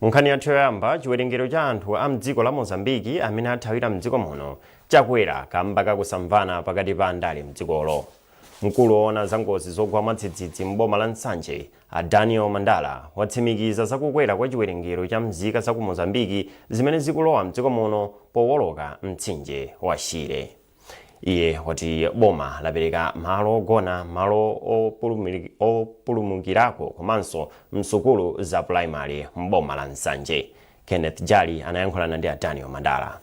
munkhani yathu yoyamba chiwerengero cha anthu a mdziko la mozambiki amene athawira mdziko muno chakwera kamba kakusamvana pakati pa andale mdzikolo mkulu woona za ngozi zogwa mwadzidzidzi m'boma la nsanje a daniel mandala watsimikiza zakukwera kwa chiwerengero cha mzika za ku mozambiki zimene zikulowa mdziko muno powoloka mtsinje wa shire Iye wati boma lapereka malo ogona, malo opulumukirako komanso msukulu za pulayimale m'boma la Nsanje. Kenneth Jali anayankhulana ndi a Daniel Mandala.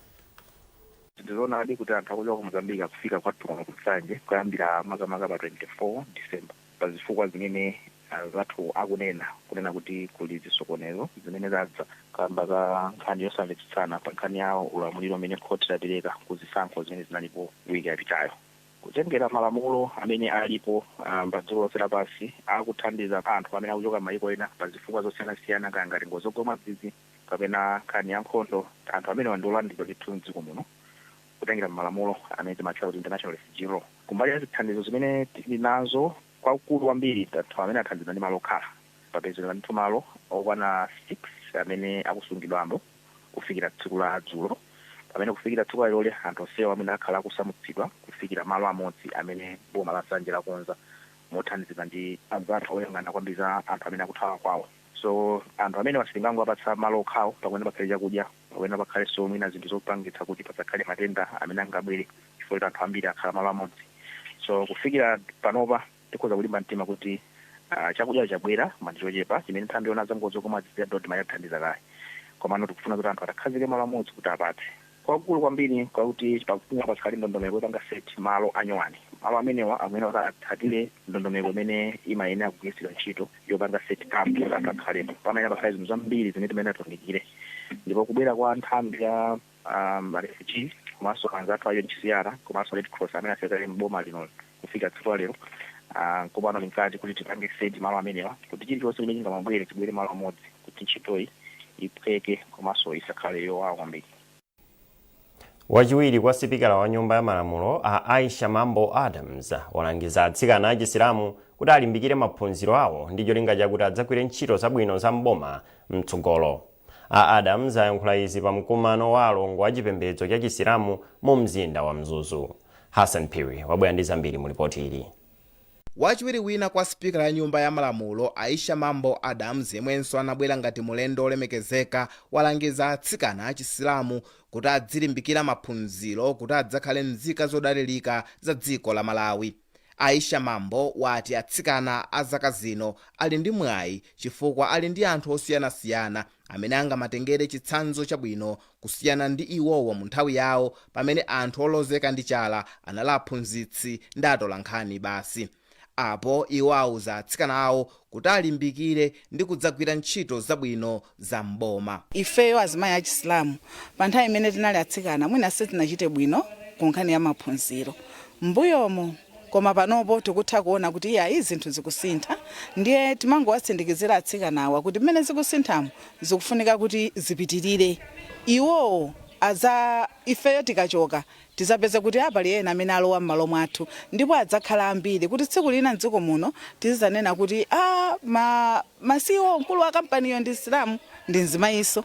Ndi zoonadi kuti anthu akuchoka ku Mozambique akufika kwathu kuno ku Nsanje kuyambira makamaka pa 24 December. pa zifukwa zimene anzathu akunena, kunena kuti kuli zisokonezo zimene zadza kamba ka nkhani yosamvetsetsana pa nkhani ya ulamuliro umene khothi lapereka ku zisankho zimene zinalipo week yapitayo. Kutengera malamulo amene alipo pa dziko lonse lapansi akuthandiza anthu amene akuchoka mmayiko ena pa zifukwa zosiyanasiyana kaya ngati ngozi zogwa mwadzidzidzi kapena nkhani ya nkhondo, anthu amenewa ndi olandiridwa ndithu mdziko muno. kutengera mmalamulo amene timatchula kuti international refugee law. Kumbali ya zithandizo zimene tili nazo kwakukulu kwambiri anthu amene athandizidwa ndi malo okhala. Papezeka ndithu malo okwana 6 amene akusungidwamo kufikira tsiku la dzulo pamene kufikira tsiku laleloli anthu onsewa amene akhala akusamutsidwa kufikira malo amodzi amene boma la Nsanje lakonza mothandizidwa ndi anzathu oyang'ana kwambiri za anthu amene akuthawa kwawo. So anthu amenewa sitingangowapatsa malo okhawo pakuyenera pakhale chakudya, pakuyenera pakhalenso mwina zinthu zopangitsa kuti pasakhale matenda amene angabwere chifukwa choti anthu ambiri akhala malo amodzi. So kufikira panopa tikhoza kulimba mtima kuti ah, chakudya chabwera koma ndi chochepa chimene nthambi yoona za ngozi zogwa mwadzidzidzi ya Dodma yathandiza kale. Komano tikufuna kuti anthu atakhazike malo amodzi kuti apatse. kwakukulu kwambiri n'kwakuti pakufunika pakhale ndondomeko yopanga set malo anyowani. Malo amenewa akuyenera kuti atsatire ndondomeko imene imayenera kugwiritsidwa ntchito yopanga set camp kuti anthu akhalepo. Pamayenera pakhale zinthu zambiri zimene timayenera tiunikire ndipo kubwera kwa nthambi ya ah, ma refugee komanso anzathu a UNHCR komanso Red Cross amene afika kale m'boma lino kufika tsiku la lero ah, nkopano tinkati kuti tipange seti malo amenewa kuti chilichonse chimene chingamabwere chibwere malo amodzi kuti ntchitoyi iphweke komanso isakhale yowawa kwambiri wachiwiri kwa sipikala wa nyumba ya malamulo a aisha mambo adams walangiza atsikana achisilamu kuti alimbikire maphunziro awo ndi cholinga chakuti adzagwire ntchito zabwino za mboma mtsogolo A Adams ayankhula izi pa mkumano wa alongo a chipembedzo cha chisilamu mu mzinda wa Mzuzu. Hassan Phiri wabwera ndi zambiri mu lipoti ili. Wachiwiri wina kwa sipikala ya nyumba ya malamulo Aisha Mambo Adams yemwenso anabwera ngati mulendo olemekezeka walangiza atsikana a chisilamu kuti adzilimbikira maphunziro kuti adzakhale mzika zodalilika za dziko la Malawi. Aisha Mambo wati atsikana a zaka zino ali ndi mwayi chifukwa ali ndi anthu osiyanasiyana amene angamatengere chitsanzo chabwino kusiyana ndi iwowo mu nthawi yawo pamene anthu olozeka ndi chala anali aphunzitsi ndi atolankhani basi. Apo iwo auza atsikanawo kuti alimbikire ndi kudzagwira ntchito zabwino za m'boma. Ifeyo azimayi achisilamu pa nthawi imene tinali atsikana mwina sitinachite bwino ku nkhani ya maphunziro m'mbuyomo koma panopo tikutha kuona kuti iyayi zinthu zikusintha ndiye timangowatsindikizira atsikanawa kuti mmene zikusinthamo zikufunika kuti zipitirire iwowo aza ifeyo tikachoka Tizapeza kuti a pali ena amene alowa mmalo mwathu ndipo adzakhala ambiri kuti tsiku lina mdziko muno tizizanena kuti a ma ma ceo mkulu wa company yo ndi msilamu ndi mzimayiso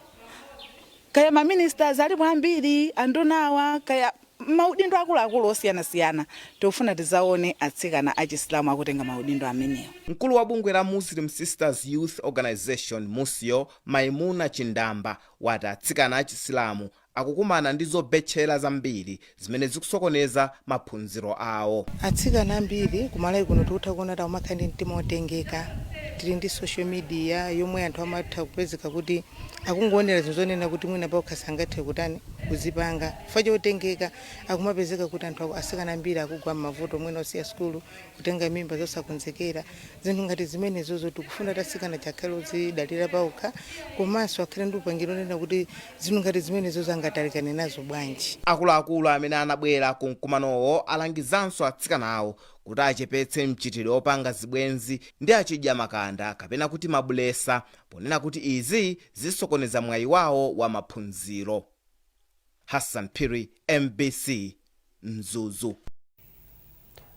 kaya ma ministers alipo ambiri andunawa kaya mmaudindo akuluakulu osiyana siyana tikufuna tizaone atsikana achisilamu akutenga maudindo ameneo. Mkulu wa bungwe la Muslim Sisters Youth Organisation, Musyo, Maimuna Chindamba wati atsikana achisilamu akukumana ndi zobetchera zambiri zimene zikusokoneza maphunziro awo. Atsikana ambiri ku Malawi kuno tikutha kuona kuti akumakhala ndi mtima wotengeka. Tili ndi social media yomwe anthu amatha kupezeka kuti akungoonera zinthu zonena kuti mwina paokha sangathe kutani, kuzipanga. Chifukwa chotengeka, akumapezeka kuti anthu aku, atsikana ambiri akugwa m'mavuto mwina osiya sukulu, kutenga mimba zosakonzekera. Zinthu ngati zimenezozo tikufuna kuti atsikana aja akhale odzidalira paokha komanso akhale ndi upangiri wonena kuti Zinthu ngati zimenezozo angatalikane nazo bwanji? Akuluakulu amene anabwera ku mkumanowo alangizanso atsikanawo kuti achepetse mchitidwe opanga zibwenzi ndi achidyamakanda kapena kuti mabulesa ponena kuti izi zisokoneza mwayi wawo wa maphunziro. Hassan Phiri, mbc. Mzuzu.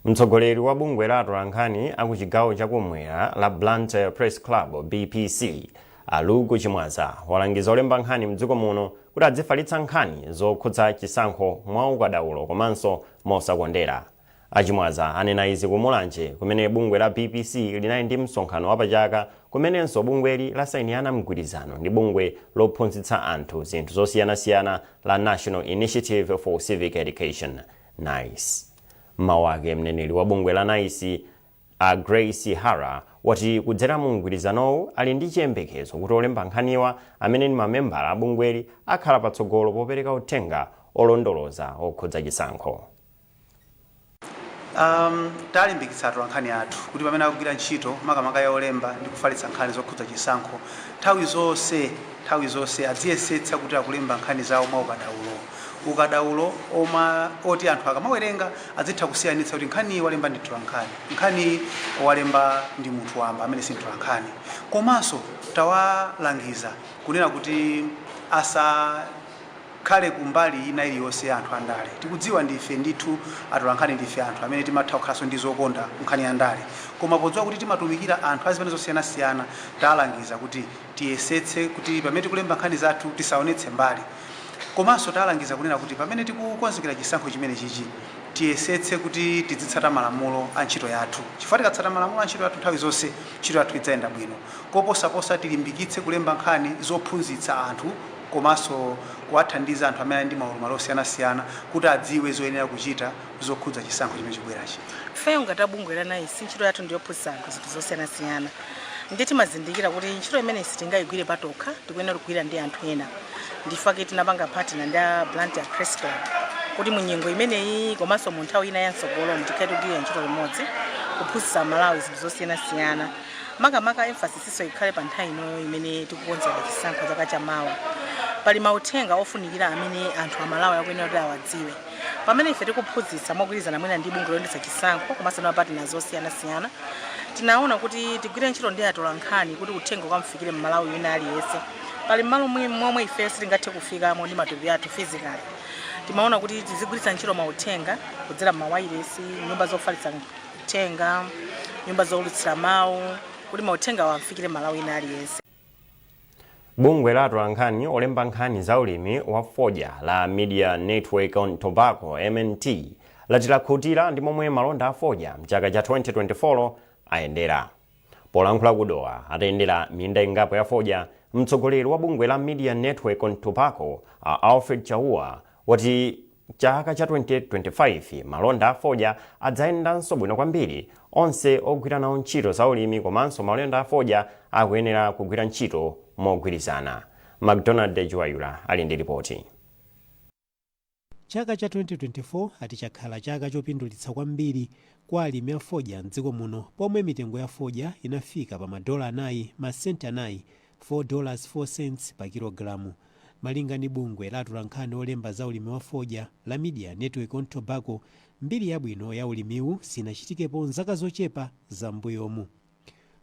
Mtsogoleri wa bungwe la atolankhani a ku chigawo cha kummwera la Blantyre Press Club, BPC, a Luke Chimwaza walangiza olemba nkhani mdziko muno kuti adzifalitsa nkhani zokhudza chisankho mwa ukadaulo komanso mosakondera. A Chimwaza anena izi ku Mulanje kumene bungwe la BPC linali ndi msonkhano wa pachaka kumenenso bungweli lasainirana mgwirizano ndi bungwe lophunzitsa anthu zinthu zosiyanasiyana la National Initiative for Civic Education, nice. M'mawu ake mneneri wa bungwe la nice a Grace Hara wati kudzera mu mgwirizanowu ali ndi chiyembekezo kuti olemba nkhaniwa amene ndi mamembala a bungweli akhala patsogolo popereka uthenga olondoloza okhudza chisankho. um Talimbikitsa atolankhani athu kuti pamene akugwira ntchito makamaka yolemba ndi kufalitsa nkhani zokhudza chisankho, nthawi zonse nthawi zonse adziyesetsa kuti akulemba nkhani zawo mwaukadaulo, ukadaulo wo oti anthu akamawerenga adzitha kusiyanitsa kuti nkhaniyi walemba ndi mtolankhani, nkhaniyi walemba ndi munthu wamba amene si mtolankhani. Komanso tawalangiza kunena kuti asa. khale ku mbali ina iliyonse ya anthu a ndale. Tikudziwa ndife ndithu atolankhani ndife anthu amene timatha kukhalanso ndi zokonda ku nkhani ya ndale. Koma podziwa kuti timatumikira anthu a zipani zosiyanasiyana talangiza kuti tiyesetse kuti pamene tikulemba nkhani zathu tisaonetse mbali. Komanso talangiza kunena kuti pamene tikukonzekera chisankho chimenechichi tiyesetse kuti tidzitsata malamulo a ntchito yathu chifukwa tikatsata malamulo a ntchito yathu nthawi zonse ntchito yathu idzayenda bwino. Koposaposa tilimbikitse kulemba nkhani zophunzitsa anthu. komanso kuwathandiza anthu amene ali ndi maulumali osiyanasiyana kuti adziwe zoyenera kuchita zokhudza chisankho chimene chikubwerachi. Ifeyo ngati a bungwe la NICE, ntchito yathu ndi yophunzitsa anthu zinthu zosiyanasiyana ndiye timazindikira kuti ntchito imeneyi sitingaigwire patokha, tikuyenera kugwira ndi anthu ena. Ndi chifukwa chake tinapanga partner ndi a Blantyre Press Club kuti mu nyengo imeneyi komanso mu nthawi ina ya m'tsogolomu tikhale tikugwirira ntchito limodzi kuphunzitsa Amalawi zinthu zosiyanasiyana makamaka emphasis Yo ikhale pa nthawi inoyo imene tikukonzera chisankho chaka cha mawa. Pali mauthenga ofunikira amene anthu a Malawi akuyenera kuti awadziwe. Pamene ife tikuphunzitsa mogwirizana mwina ndi bungwe loyendetsa chisankho komanso ndi ma partners osiyanasiyana, tinaona kuti tigwire ntchito ndi atolankhani kuti uthenga ukamufikire m'Malawi wina aliyense. Pali malo momwe ifeyo sitingathe kufikamo ndi matupi athu physically. Timaona kuti tizigwiritsa ntchito mauthenga kudzera m'mawailesi, nyumba zofalitsa tenga nyumba zoulutsira mawu kuti mauthengawo amfikire m'malawi wina aliyense bungwe la atolankhani olemba nkhani za ulimi wa fodya la media network on tobacco mnt lati lakhutira ndi momwe malonda a fodya mchaka cha 2024 ayendera polankhula ku dowa atayendera minda ingapo ya fodya mtsogoleri wa bungwe la media network on tobacco a alfred chauwa wati Chaka cha 2025, malonda a fodya adzayendanso bwino kwambiri. Onse ogwira nawo ntchito za ulimi komanso malonda a fodya akuyenera kugwira ntchito mogwirizana. Macdonald Dejiwayura ali ndi ripoti. Chaka cha 2024 ati chakhala chaka chopindulitsa kwambiri kwa alimi a fodya m'dziko muno pomwe mitengo ya fodya inafika pa madola anayi, masenti anayi, 4 dollars 4 cents pa kilogalamu. Malinga ndi bungwe la atolankhani olemba za ulimi wa fodya la Media Network on Tobacco, mbiri yabwino ya ulimiwu sinachitikepo m'zaka zochepa za m'mbuyomu.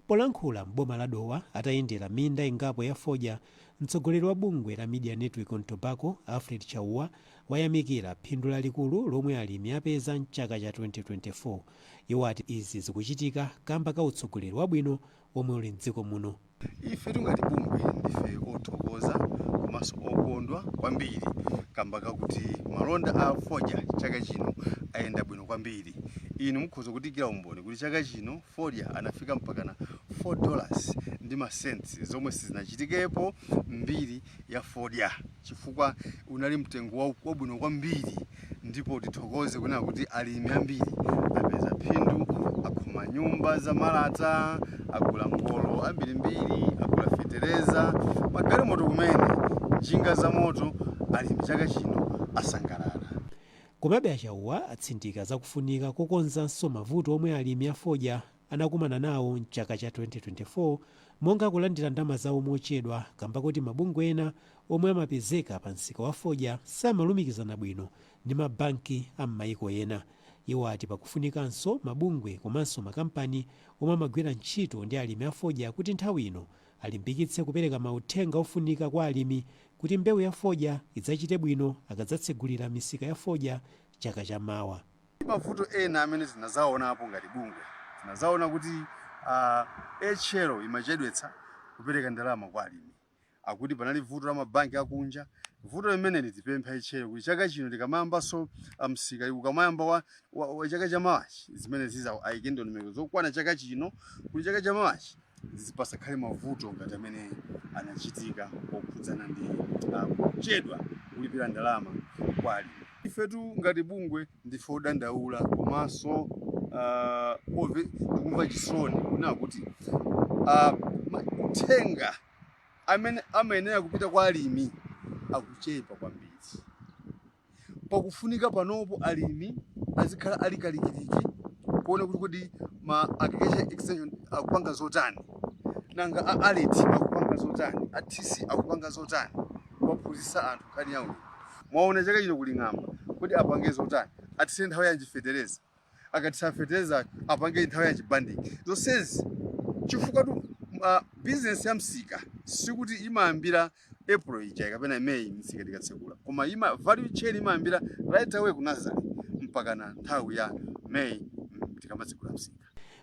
Polankhula m'boma la Dowa atayendera minda ingapo ya fodya, mtsogoleri wa bungwe la Media Network on Tobacco, Alfred Chauwa, wayamikira phindu lalikulu lomwe alimi apeza m'chaka cha 2024. Iwo ati izi zikuchitika kamba ka utsogoleri wabwino womwe uli m'dziko muno. Ife tingati bungwe ndife othokoza komanso okondwa kwambiri kamba kakuti malonda a fodya chaka chino ayenda bwino kwambiri. Inu mukhoza kutiikira umboni kuti chaka chino fodya anafika mpakana 4 dollars ndi ma cents zomwe sizinachitikepo m'mbiri ya fodya. chifukwa unali mtengo wa- wabwino kwambiri ndipo tithokoze kunena kuti alimi ambiri apeza phindu akhoma nyumba za malata agula ngolo ambirimbiri agula fetereza magalimoto kumene njinga za moto alimi chaka chino asangalala Komabe a Chauwa atsindika za kufunika kokonzanso mavuto omwe alimi a fodya anakumana nawo m'chaka cha 2024 monga kulandira ndama zawo mochedwa kamba koti mabungwe ena omwe amapezeka pa msika wa fodya samalumikizana bwino ndi ma banki a m'mayiko ena. Iwo ati pakufunikanso mabungwe komanso makampani omwe amagwira ntchito ndi alimi a fodya kuti nthawi ino alimbikitse kupereka mauthenga ofunika kwa alimi kuti mbewu ya fodya idzachite bwino akadzatsegulira misika ya fodya chaka cha mawa. Mavuto ena amene tinadzaonapo ngati bungwe, tinadzaona kuti AHL imachedwetsa kupereka ndalama kwa alimi, akuti panali vuto la mabanki akunja. Vuto limeneli tipempha AHL kuti chaka chino tikamayambanso msika, ukamayamba wa chaka chamawachi, zimenezizi aike ndondomeko zokwana chaka chino kuti chaka chamawachi, izi pasakhale mavuto ngati amene anachitika okhudzana ndi kuchedwa kulipira ndalama kwa alimi. Ifetu ngati bungwe ndife odandaula komanso uh, tikumva chisoni kunena kuti uh, mauthenga amene amayenera kupita kwa alimi akuchepa kwambiri. pakufunika panopo alimi azikhala ali kalikiliki kuona kuti kodi ma agriculture extension akupanga zotani nanga a ARET akupanga zotani a TC akupanga zotani kuwaphunzitsa anthu nkhani ya ulimi mwaona chaka chino kuli ng'amba kodi apange zotani atsire nthawi yanji fetereza akathira fetereza apange nthawi ya banding zonsezi chifukwatu uh, business ya msika sikuti imayambira april ija kapena may msika tikatsekula koma imayi value chain imayambira right away ku nazale mpakana nthawi ya may tikamatsekula msika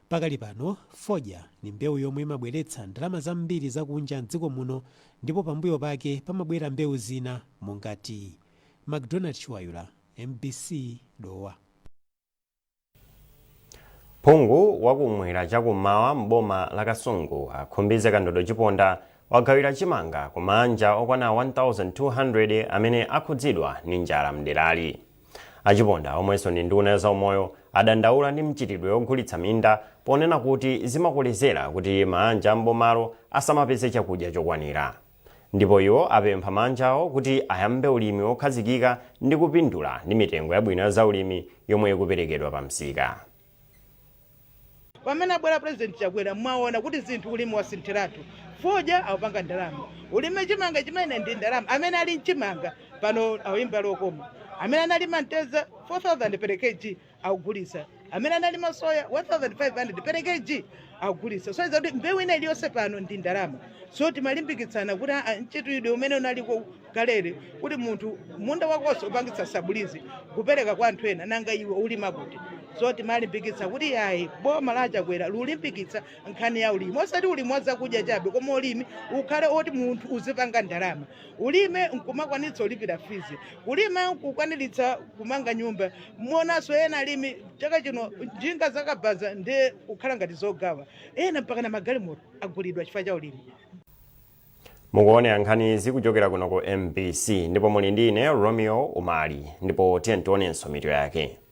Pakali pano, fodya ni mbewu yomwe imabweretsa ndalama zambiri zakunja m'dziko muno ndipo pambuyo pake pamabwera mbewu zina monga tiyi. Macdonald Chiwayula, mbc, Dowa. Phungu wa kum'mwera cha kum'mawa m'boma la Kasungu a Khumbize Kandodo Chiponda wagawira chimanga ku maanja okwana 1,200 amene akhudzidwa ndi njala m'derali. A Chiponda omwenso ndi nduna ya zaumoyo adandaula ndi mchitidwe wogulitsa minda ponena kuti zimakolezera kuti maanja a m'bomalo asamapeze chakudya chokwanira. Ndipo iwo apempha maanjawo kuti ayambe ulimi wokhazikika ndi kupindula ndi mitengo yabwino ya zaulimi yomwe ikuperekedwa pa msika. Pamene abwera president chakwera mwaona kuti zinthu ulimi wasinthiratu fodya aupanga ndalama ulime chimanga chimene ndi ndalama amene alima chimanga pano auyimba lokoma amene analima mtedza 4000 per kg akugulitsa amene analima soya 1500 per kg akugulitsa so inakuti mbewu ina iliyonse pano ndi ndalama so timalimbikitsana kuti ah, mchitidwe umene unaliko kalere kuti munthu munda wakonso upangitsa sabulizi kupereka kwa anthu ena nanga iwe ulima kuti so timalimbikitsa kuti yayi boma la chakwera liulimbikitsa nkhani ya ulimi osati ulimi wa zakudya chabe koma ulimi ukhale oti munthu uzipanga ndalama ulime nkumakwanitsa ulipira fizi ulime nkukwaniritsa kumanga nyumba muonanso ena alimi chaka chino njinga zakabaza ndiye kukhala ngati zogawa ena mpakana magalimoto agulidwa chifukwa cha ulimi mukuonera nkhani zikuchokera kuno ku mbc ndipo muli ndi ine romeo umali ndipo tiyeni tionenso mitu yake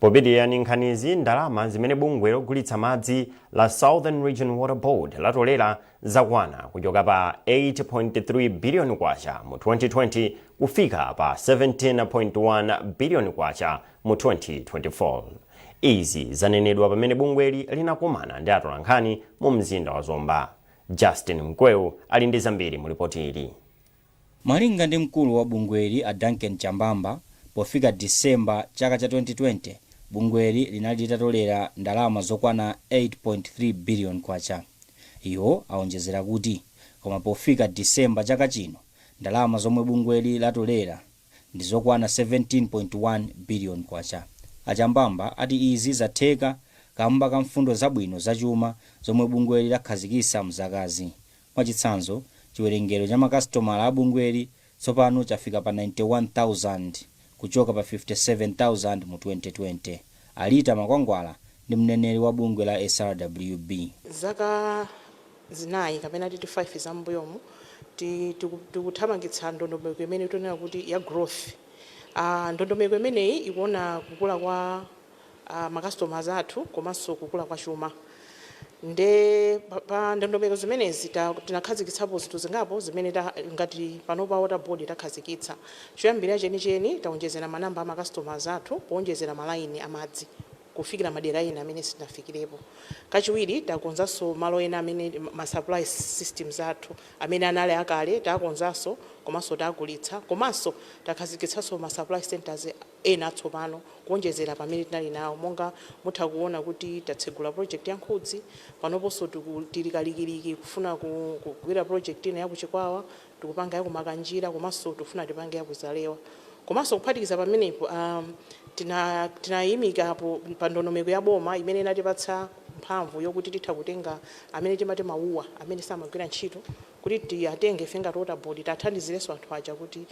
popitiriza ndi nkhanizi ndalama zimene bungwe logulitsa madzi la southern region water board latolera zakwera kuchoka pa 8.3 biliyoni kwacha mu 2020 kufika pa 17.1 biliyoni kwacha mu 2024 izi zanenedwa pamene bungweli linakumana ndi atolankhani mu mzinda wa zomba justin mkweu ali ndi zambiri mu lipoti ili Malinga ndi mkulu wa bungweli a Duncan Chambamba, pofika December chaka cha 2020, bungweli linali litatolera ndalama zokwana K8.3 billion. Iwo awonjezera kuti koma pofika December chaka chino, ndalama zomwe bungweli latolera ndi zokwana K17.1 billion. A Chambamba ati izi zatheka kamba ka mfundo zabwino za chuma zomwe bungweli lakhazikitsa m'zakazi Mwachitsanzo, chiwerengero cha makasitomala a bungweli tsopano chafika pa 91,000 kuchoka pa 57,000 mu 2020. A Rita Makwangwala ndi mneneri wa bungwe la SRWB. Zaka zinayi kapena titi 5 za m'mbuyomu tikuthamangitsa ndondomeko imene tikunena kuti ya growth. Ndondomeko imeneyi ikuona kukula kwa a ma customers athu komanso kukula kwa chuma nde pa- pa ndondomeko zimenezi ta- tinakhazikitsapo zinthu zingapo zimene ta- ngati panopa water board takhazikitsa choyambirira chenicheni taonjezera manamba a ma customers athu kuonjezera malaini amadzi kufikira madera ena amene sitinafikirepo kachiwiri takonzanso malo ena amene ma supply systems athu amene anali akale takonzanso komanso takulitsa komanso takhazikitsanso ma supply centers ena atsopano kuonjezera pamene tinali nawo. Monga mutha kuona kuti tatsegula project ya Nkhudzi, panoponso tiku tili kalikiliki kufuna ku kugwira project ina ya ku Chikwawa, tikupanga ya ku Makanjira komanso tikufuna tipange ya ku Zalewa. Komanso kuphatikiza pamenepo, a tina tinayimika po pa ndondomeko ya boma imene inatipatsa mphamvu yokuti titha kutenga amene timati ma wua, amene samagwira ntchito, kuti tiatenge ife ngati Water Board tiathandizirenso anthu aja kuti.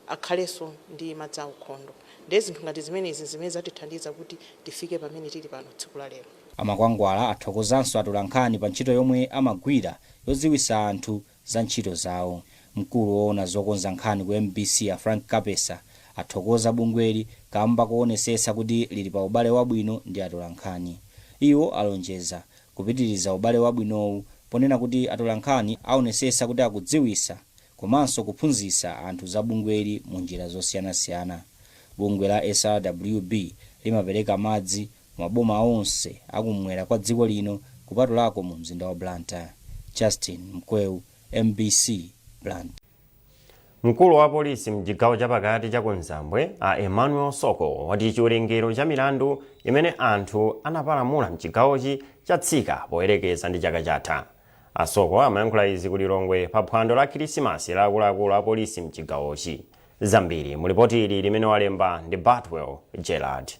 akhalenso ndi madzi aukhondo. Ndiye zinthu ngati zimenezi n'zimene zatithandiza kuti tifike pamene tili pano tsiku la lero. A Makwangwala athokozanso atolankhani pa ntchito yomwe amagwira yodziwitsa anthu za ntchito zawo. Mkulu woona zokonza nkhani ku mbc a Frank Kapesa athokoza bungweli kamba koonesetsa kuti lili pa ubale wabwino ndi atolankhani. Iwo alonjeza kupitiriza ubale wabwinowu ponena kuti atolankhani aonesetsa kuti akudziwitsa komanso kuphunzitsa anthu za bungweli mu njira zosiyanasiyana. Bungwe la SRWB limapereka madzi mu maboma onse a kummwera kwa dziko lino kupatulako mu mzinda wa Blantyre. Justin Mkweu, mbc, Blantyre. Mkulu wa polisi mchigawo chapakati cha kumzambwe a Emmanuel Soko wati chiwerengero cha milandu imene anthu anapalamula mchigawochi chatsika poyerekeza ndi chaka chatha. A Soko amayankhula izi ku Lilongwe pa phwando la khilisimasi la akuluakulu a polisi mchigawochi. Zambiri mu lipoti ili limene walemba ndi Batwell Gerald.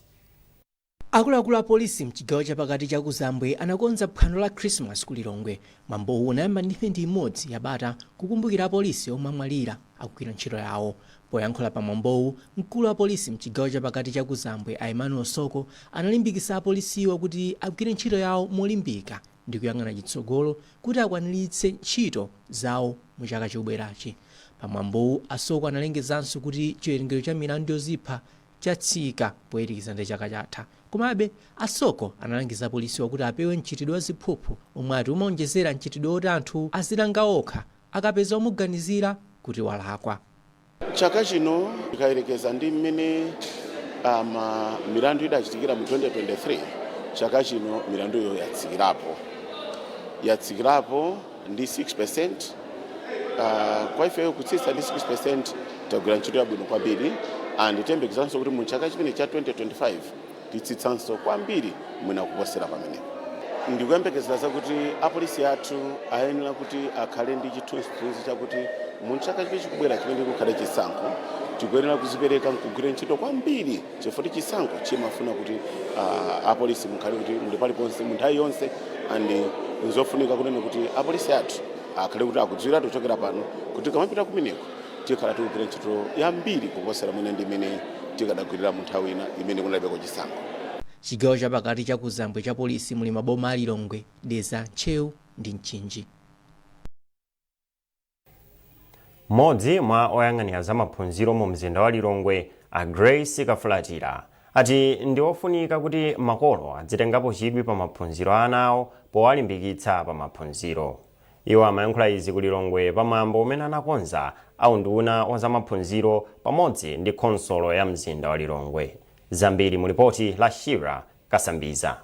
Akuluakulu a polisi mchigawo chapakati cha kuzambwe anakonza phwando la khilisimasi ku Lilongwe. Mwambowu unayamba ndi mphindi imodzi ya bata kukumbukira apolisi omwe amwalira akugwira ntchito yawo. Poyankhula pa mwambowu, mkulu wa polisi mchigawo chapakati cha kuzambwe a Emmanuel Soko analimbikisa apolisiwo kuti agwire ntchito yawo molimbika. ndi kuyang'ana chitsogolo kuti akwaniritse ntchito zawo mu chaka chobwerachi. Pa mwambowu, a Soko analengezanso kuti chiwerengero cha milandu yozipha chatsika poyerekeza ndi chaka chatha. Komabe, a Soko analangiza apolisiwa kuti apewe mchitidwe wa ziphuphu omwe ati umaonjezera mchitidwe woti anthu azilanga okha akapeza omuganizira kuti walakwa. Chaka chino tikayerekeza ndi mmene um, milandu idachitikira mu 2023 chaka chino milandu iyo yatsikirapo yatsikirapo ndi 6% uh, kwa ifeyo kutsitsa ndi 6% tagwira ntchito yabwino kwambiri and tiyembekezanso kuti mu chaka chimene cha 2025 titsitsanso kwambiri mwina kuposera pamenepo ndikuyembekezera zakuti apolisi athu ayenera kuti akhale ndi chithunzithunzi chakuti mu chaka chimene chikubwera chimene kukhale chisankho tikuyenera kuzipereka nkugwira ntchito kwambiri chifukwa chisankho chimafuna kuti uh, apolisi mukhale kuti muli paliponse mu nthawi yonse and nzofunika kunena kuti apolisi athu akhale kuti akudziwiratu kuchokera pano kuti tikamapita kumeneko tikhala tikugwira ntchito yambiri kuposera mwina ndi imene tikadagwirira mu nthawi ina imene kunalibeko chisankho. Chigawo chapakati cha kumzambwe cha polisi muli maboma a Lilongwe, Dedza, Ntcheu ndi Mchinji. Mmodzi mwa oyang'anira za maphunziro mu mzinda wa Lilongwe, a Grace Kafulatira, ati ndi ofunika kuti makolo adzitengapo chidwi pa maphunziro a ana awo powalimbikitsa pa maphunziro. Iwo amayankhula izi ku Lilongwe pa mwambo umene anakonza a unduna wa za maphunziro pamodzi ndi khonsolo ya mzinda wa Lilongwe. Zambiri mu lipoti la Sheila Kasambiza.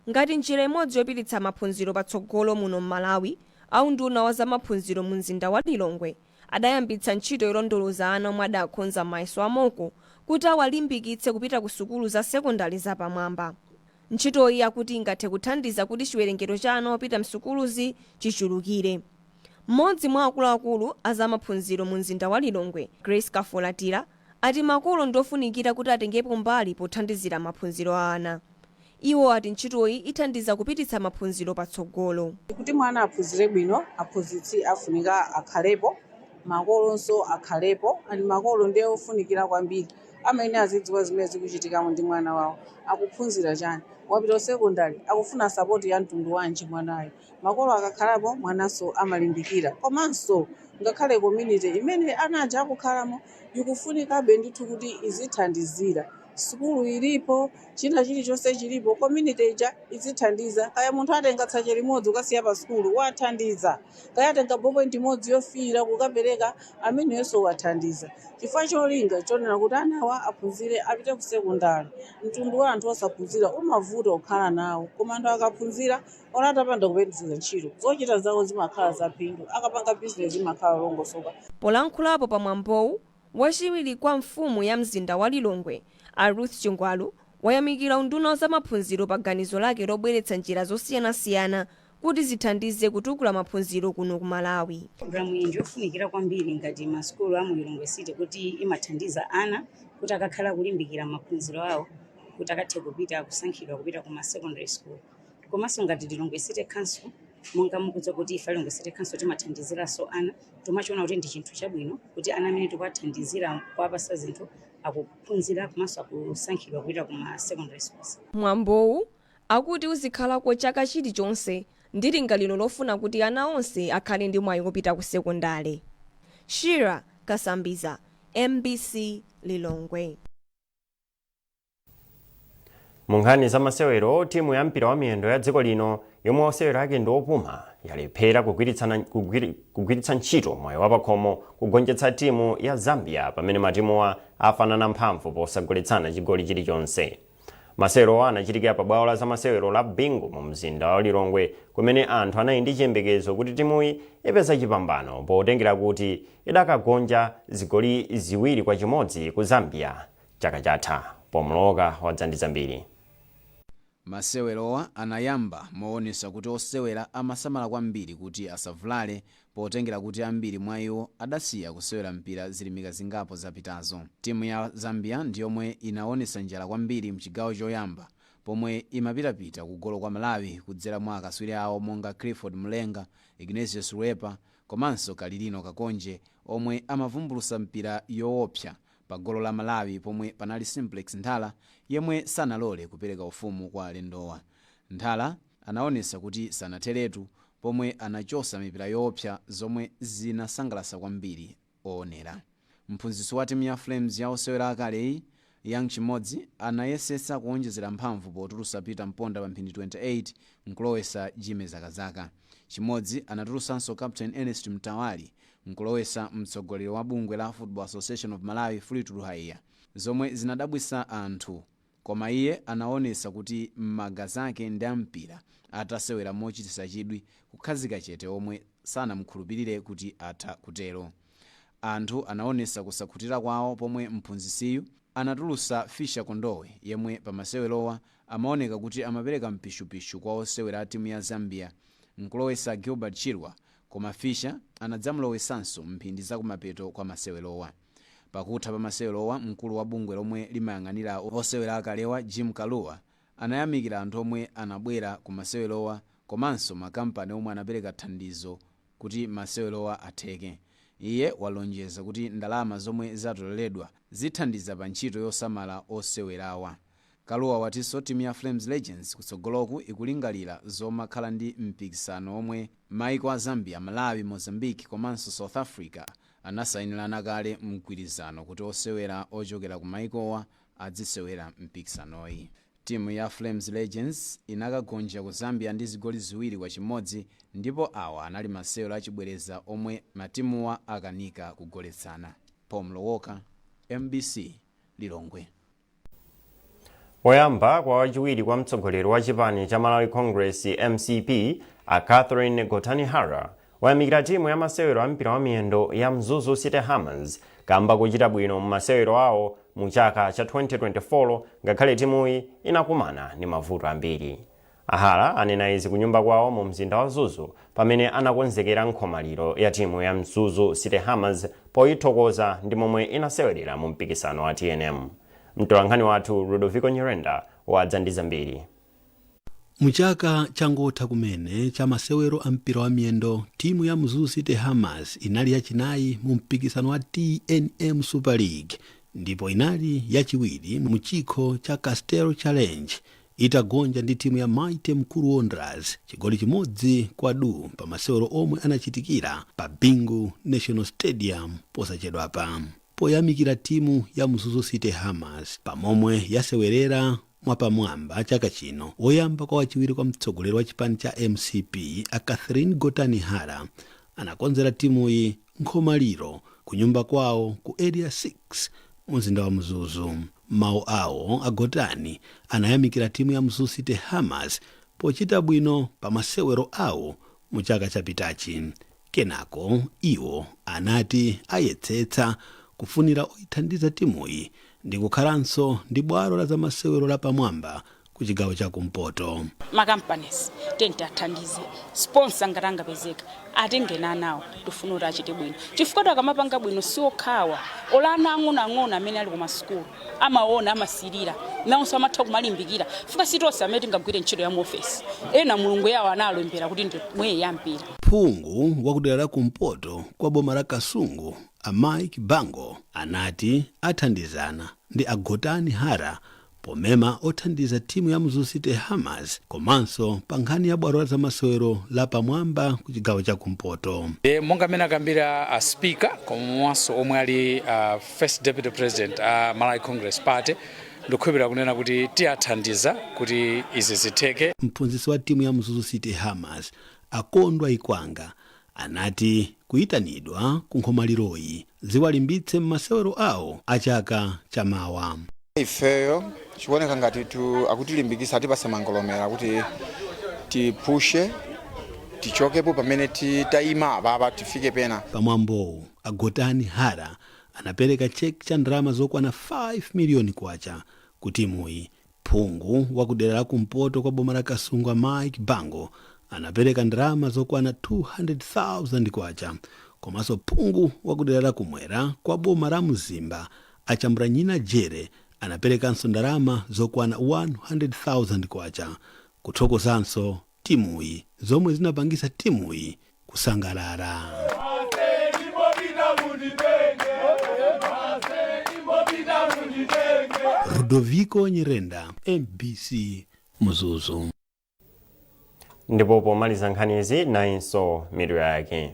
Ngati njira imodzi yopititsa maphunziro patsogolo muno m'Malawi, a unduna wa za maphunziro mu mzinda wa Lilongwe adayambitsa ntchito yolondoloza ana omwe adakhonza mayeso a mock kuti awalimbikitse kupita ku sukulu za sekondale za pamwamba. Ntchitoyi akuti ingathe kuthandiza kuti chiwerengero cha ana opita m'sukuluzi chichulukire. Mmodzi mwa akuluakulu a za maphunziro mumzinda wa Lilongwe, Grace Kafulatira, ati makolo ndi ofunikira kuti atengepo mbali pothandizira maphunziro a ana. Iwo ati ntchitoyi ithandiza kupititsa maphunziro patsogolo. Kuti mwana aphunzire bwino, aphunzitsi afunika akhalepo, makolonso akhalepo and makolo ndi ofunikira kwambiri. amayenera azidziwa zimene zikuchitika ndi mwana wawo, akuphunzira chani, wapita ku sekondale, akufuna sapoti ya mtundu wanji mwanayo. Makolo akakhalapo mwananso amalimbikira. Komanso ngakhale community imene ana aja akukhalamo ikufunikabe ndithu kuti izithandizira. Sukulu ilipo, china chilichonse chilipo, community ija izithandiza. Kaya munthu atenga tsache limodzi kukasiya pa sukulu, wathandiza. kaya atenga ballpoint imodzi yofiira kukapereka ameneyonso wathandiza chifukwa cholinga chonena kuti anawa aphunzire apite ku sekondale mtundu wa anthu osaphunzira umavuta kukhala nawo koma anthu akaphunzira olo atapanda kupeza ntchito zochita zawo zimakhala zaphindu akapanga bizinesi imakhala yolongosoka Polankhulapo pa mwambowu, wachiwiri kwa mfumu ya mzinda wa Lilongwe, a Ruth Chingwalu, wayamikira unduna wa zamaphunziro pa ganizo lake lobweretsa njira zosiyanasiyana kuti zithandize kutukula maphunziro kuno ku Malawi. Programu iyi ndiyofunikira kwambiri ngati ma sukulu a mu Lilongwe City kuti imathandiza ana kuti akakhala kulimbikira maphunziro awo kuti akathe kupita kusankhidwa kupita ku ma secondary school. Komanso ngati Lilongwe City Council monga mukudziwa kuti ife Lilongwe City Council timathandiziranso ana timachiona kuti ndi chinthu chabwino kuti ana amene tikuwathandizira kuwapasa zinthu akuphunzira komanso akusankhidwa kupita ku ma secondary schools. Mwambowu akuti uzikhalako chaka chilichonse ndi lingaliro lofuna kuti ana onse akhale ndi mwayi wopita ku sekondale. Shira Kasambiza, mbc Lilongwe. Mu nkhani za masewero, timu ya mpira wa miyendo ya dziko lino yomwe osewera ake ndi opuma yalephera kugwiritsa ntchito mwayi wapakhomo kugonjetsa timu ya Zambia pamene matimuwa afanana mphamvu posagoletsana chigoli chilichonse. masewerowa anachitikira pa bwalo la zamasewero la bingu mu mzinda wa lilongwe kumene anthu anali ndi chiyembekezo kuti timuyi ipeza chipambano potengera kuti idakagonja zigoli ziwiri kwa chimodzi ku zambia chaka chatha pomloka wadzandiza mbiri masewerowa anayamba moonesa kuti osewera amasamala kwambiri kuti asavulale Potengera kuti ambiri mwa iwo adasiya kusewera mpira zilimika zingapo zapitazo, timu ya Zambia ndi yomwe inawonetsa njala kwambiri mchigawo choyamba pomwe imapitapita kugolo kwa Malawi kudzera mwa akaswiri awo monga Clifford Mulenga, Ignatius Lwipa komanso Kalilino Kakonje omwe amavumbulusa mipira yowopsa pagolo la Malawi pomwe panali Simplex Nthala yemwe sanalole kupereka ufumu kwa alendowa. Nthala. anaonesa kuti sanatheretu pomwe anachosa mipira yoopsa zomwe zinasangalatsa kwambiri oonera. Mphunzitsi wa timu ya Flames ya osewera akaleyi, Young Chimodzi anayesesa kuonjezera mphamvu potulusa Peter Mponda pa mphindi 28 nkulowesa Jimmy Zakazaka. Chimodzi anatulusanso Captain Ernest Mtawali nkulowesa mtsogoleri wa bungwe la Football Association of Malawi, Fleetwood Haiya zomwe zinadabwisa anthu. Koma iye anawonetsa kuti m'magazi ake ndi a mpira atasewera mochititsa chidwi kukhazika chete omwe sanamukhulupilire kuti atha kutero. Anthu anawonetsa kusakhutira kwawo pomwe mphunzitsiyu anatulutsa Fischer Kondowe yemwe pa masewerowa amawoneka kuti amapereka mpishupishu kwa osewera a timu ya Zambia nkulowetsa Gilbert Chirwa koma Fischer anadzamulowetsanso mphindi zakumapeto kwa masewerowa. Pakutha pa masewerowa mkulu wa bungwe lomwe limayang'anira osewera akalewa Jim Kalua anayamikira anthu omwe anabwera ku masewerowa komanso ma kampani omwe anapereka thandizo kuti masewerowa atheke. Iye walonjeza kuti ndalama zomwe zatoleredwa zithandiza pa ntchito yosamala osewerawa. Kalua watinso timu ya Flames Legends kutsogoloku ikulingalira zomakhala ndi mpikisano womwe maiko a Zambia, Malawi, Mozambique komanso South Africa anasainirana kale mgwirizano kuti osewera ochokera ku maikowa adzisewera mpikisanoyi. Timu ya Flames Legends inakagonja ku Zambia ndi zigoli ziwiri kwa chimodzi ndipo awa anali masewero achibwereza omwe matimuwa akanika kugoletsana. Paul Mlowoka, mbc, Lilongwe. Woyamba kwa wachiwiri kwa mtsogoleri wa chipani cha Malawi Congress, mcp, a Catherine Gotani Hara wayamikira timu ya masewero a mpira wa miyendo ya Mzuzu City Hammers kamba kochita bwino mu masewero awo mu chaka cha 2024 ngakhale timuyi inakumana ndi mavuto ambiri. A Hara anena izi kunyumba kwawo mu mzinda wa Mzuzu pamene anakonzekera nkhomaliro ya timu ya Mzuzu City Hammers poyithokoza ndi momwe inasewerera mu mpikisano wa tnm. Mtolankhani wathu Rudoviko Nyirenda wadza ndi zambiri. Mu chaka changotha kumene cha masewero a mpira wa miyendo, timu ya Mzuzu City Hammers inali yachinayi mu mpikisano wa tnm Super League ndipo inali yachiwiri mu chikho cha Castel Challenge Itagonja ndi timu ya Mighty Mukuru Wanderers chigoli chimodzi kwa duu pa masewero omwe anachitikira pa Bingu National Stadium posachedwapa poyamikira timu ya Mzuzu City Hammers pa momwe yasewerera mwapamwamba chaka chino, woyamba kwa wachiwiri kwa mtsogoleri wa chipani cha mcp a Catherine Gotani Hara anakonzera timuyi nkhomaliro kunyumba kwawo ku Area 6 mu mzinda wa Mzuzu. M'mawu awo, a Gotani anayamikira timu ya Mzuzu City Hammers pochita bwino pa masewero awo mu chaka chapitachi. Kenako iwo anati ayesetsa kufunira oyithandiza timuyi ndi kukhalanso ndi bwalo la zamasewero lapamwamba kuchigawo cha kumpoto. ma companies tiyeni tiathandize sponsor ngati angapezeka atenge ana awo tifuna kuti achite bwino chifukwa kuti akamapanga bwino si okhawa olo ana ang'onoang'ono amene ali kumasukulu amaona amasirira nawonso amatha kumalimbikira chifukwa si tonse amene tingagwire ntchito ya mu ofesi ena mulungu anawalembera kuti ndi mwayi wampira phungu wa kudera la kumpoto kwa boma la kasungu a mike bango anati athandizana ndi agotani hara Pomema othandiza timu ya Mzuzu City Hammers komanso pa nkhani ya bwalo la zamasewero la pamwamba ku chigawo cha kumpoto. E, monga mmene akambira a speaker komanso omwe ali a first deputy president a Malawi Congress Party ndikukhulupirira kunena kuti tiyathandiza kuti izi zitheke. Mphunzitsi wa timu ya Mzuzu City Hammers a Kondwa Ikwanga anati kuyitanidwa ku nkhomaliro-yi ziwalimbitse mmasewero awo a chaka cha mawa. Ifeyo chikuoneka ngati akutilimbikitsa atipatse mangolomera kuti tipushe tichokepo pamene ti- tayima apapa tifike pena. Pa mwambowu, a Gotani Hara anapereka cheki cha ndalama zokwana 5 miliyoni kwacha ku timuyi Phungu wa ku dera la kumpoto kwa boma la Kasungu a Mike Bango anapereka ndalama zokwana K200,000 komanso phungu wa ku dera la kumwera kwa boma la Mzimba a Chambulanyina Jere anaperekanso ndalama zokwana K100,000 kuthokozanso timuyi zomwe zinapangitsa timuyi kusangalala. Ludoviko Nyirenda, mbc Mzuzu. ndipo pomaliza nkhanizi nayinso mitu yake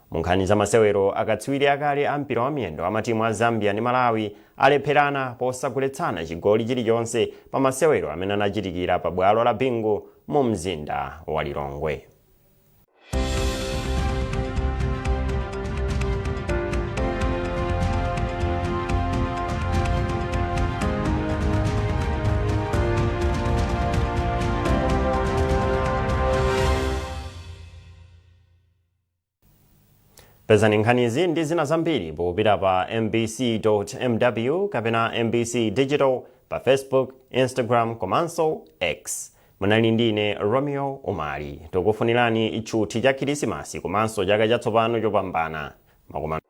Munkhani za masewero, akatswiri akale a mpira wa miyendo a matimu a Zambia ndi Malawi alepherana posagoletsana chigoli chilichonse pa masewero amene anachitikira pa bwalo la Bingu mu mzinda wa Lilongwe. pezani nkhanizi ndi zina zambiri popita pa mbc.mw kapena mbc digital pa facebook instagram komanso x munali ndi ine romeo umali tokufunirani tchuthi cha khirisimasi komanso chaka chatsopano chopambana